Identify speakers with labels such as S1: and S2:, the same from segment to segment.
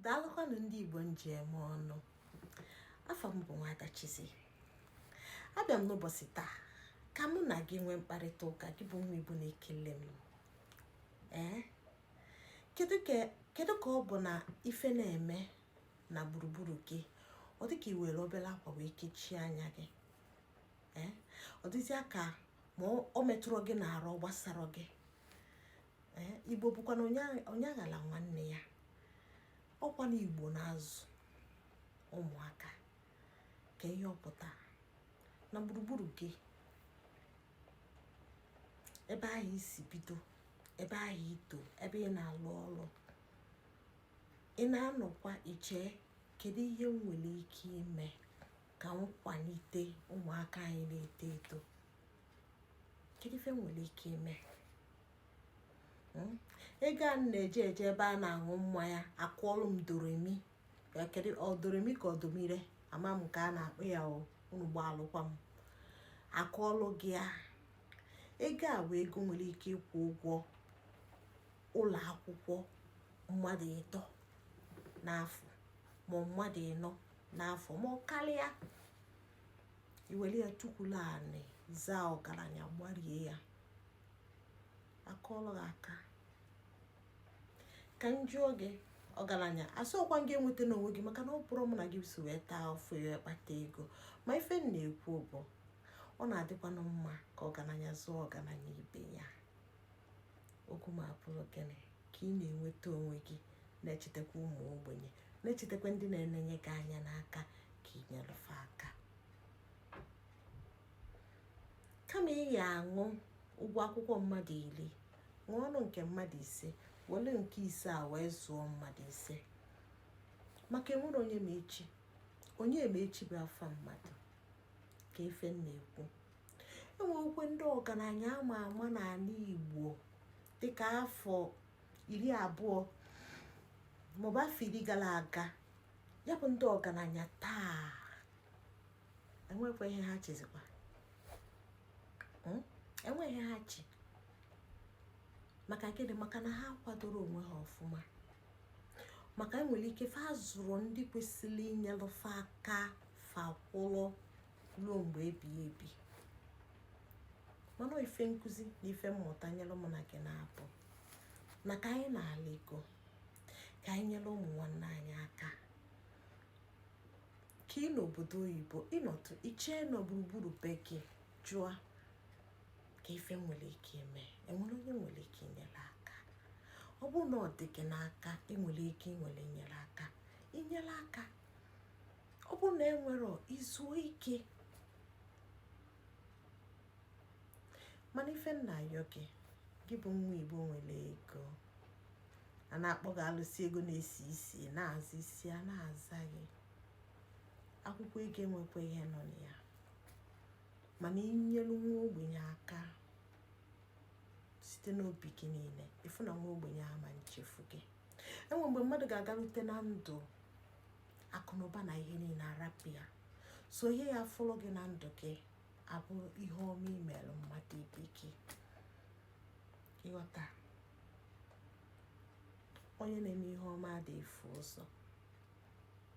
S1: daalụkwanụ ndị igbo m ji eme ọnụ afa m bụ nwada Chizzy abịa m n'ụbọchị taa ka mụ na gị nwee mkparịta ụka gị bụ nwa igbo na-ekili m ee kedu ka ọ bụ na ife na-eme na gburugburu gị ọ dịka i were obele akwa wee kechie anya gị ee ọ dịzịa ka ma ọ metụrọ gị n'arụ ọ gbasara gị igbo bụkwa na onye aghala nwanne ya ọkwa na igbo na-azụ ụmụaka ka ihe ọ pụta na gburugburu gị ebe ahụ i si bido ebe ahụ i to ebe ị na-alụ ọrụ ị na-anọkwa eche kedu ihe m nwere ike ime ka m kwalite ụmụaka anyị na-eto eto kedu ife m nwere ike ime hmm? ego a na-eje eje ebe a na-aṅụ mmanya akụọlụ m doremi kedu ọ doremi ka ọ domire ama m ka a na-akpọ ya unu gbaalụkwa m akụọlụ gị ya ego a bụ ego nwere ike ịkwụ ụgwọ ụlọ akwụkwọ mmadụ ịtọ n'afọ ma mmadụ ịnọ n'afọ ma ọ karịa i were ya tukwulu anị zaa ọgaranya gbarie ya akụọlụ gị aka ka m jụọ gị ọgaranya asịrọkwa m gị enwetana onwe gị maka na ọ bụrọ mụ na gị so wee taa afụfụ kpata ego ma ife m na-ekwu bụ ọ na-adịkwanụ mma ka ọgaranya zụọ ọgaranya ibe ya okwu m abụrụ gịnị ka ị na-enweta onwe gị na-echetakwa ụmụ ogbenye na-echetakwa ndị na-enenye gị anya n'aka ka ị nyelụ fa aka kama ị ya-aṅụ ụgwọ akwụkwọ mmadụ iri ṅụọnụ nke mmadụ ise were nke ise a wee zụọ mmadụ ise maka enwerọ onye ma echi onye ma echi bụ afa mmadụ ka ife m na-ekwu enwekwe ndị ọgaranya ama ama n'anị igbo dịka afọ iri abụọ maọbụ afọ iri gara aga ya bụ ndị ọgaranya taa enwekwa ihe ha chịzikwa hmm? enweghị ihe ha chị maka gịnị maka na ha kwadorọ onwe ha ọfụma maka enwere ike fa zụrụ ndị kwesịrị inyelụ fa aka fa kwụrụ ruo mgbe ebighị ebi mana ife nkụzi na ife mmụta nyelụ mụ na gị na-abụ na ka anyị na-ala ego ka anyị nyere ụmụ nwanne anyị aka ka ị nọ obodo oyibo ị nọtụ i chee na gburugburu be gị jụọ ka ife i nwere ike ime e nwere onye i nwere ike inyere aka ọ bụrụ na ọ dị gị n'aka i nwere ike inwere inyere aka inyere aka ọ bụrụ na i nwerọ i zuo ike mana ife m na-ayọ gị gị bụ nwa igbo nwere ego a na-akpọ gị alụsị ego na-esi isi na-aza isi a na-aza gị akwụkwọ ego enwekwa ihe nọ na ya mana i nyelu nwa ogbenye aka site n'obi gị niile ị fụ na nwa ogbenye ama echefu gị e nwe mgbe mmadụ ga-agarute na ndụ akụ na ụba na ihe niile arapụ ya sọ ihe ya-afọrọ gị na ndụ gị bụ ihe ọma i meere mmadụ ibe gị ị ghọta onye na-eme ihe ọma adị efu ụzọ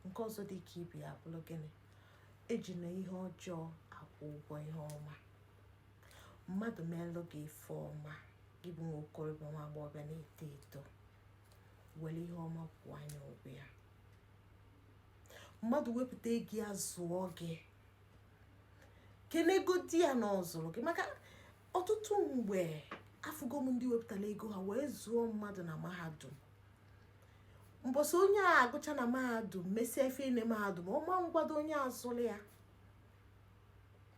S1: nke ọzọ dị ka ibe ya bụrụ gịnị ejina ihe ọjọọ akwụ ụgwọ ihe ọma mmadụ meelụ gị ife ọma gị bụ nwa okorobịa nwa agbọghọbịa na-eto eto were ihe ọma kwụọ ya ụgwọ ya mmadụ wepụta ego ya zụọ gị kenegodi ya na ọ zụrụ gị maka ọtụtụ mgbe afụgo m ndị wepụtara ego ha wee zụọ mmadụ na mahadum mbọsị onye a agụcha na mahadum mesie ife na mahadum ọ ma agwadị onye a zụrụ ya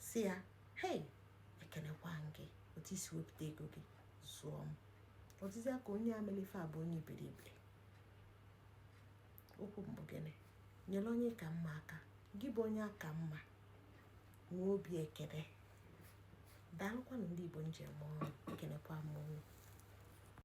S1: sị ya hei ekenekwa m gị otu i si wepụta ego gị zụọ m ọ dịzi ka onye a melu ife a bụ onye iberibe okwu m bụ gịnị nyere onye ị ka mma aka gị bụ onye a ka mma nwee obi ekene daalụkwanụ ndị Igbo nke m oo ekenekwa m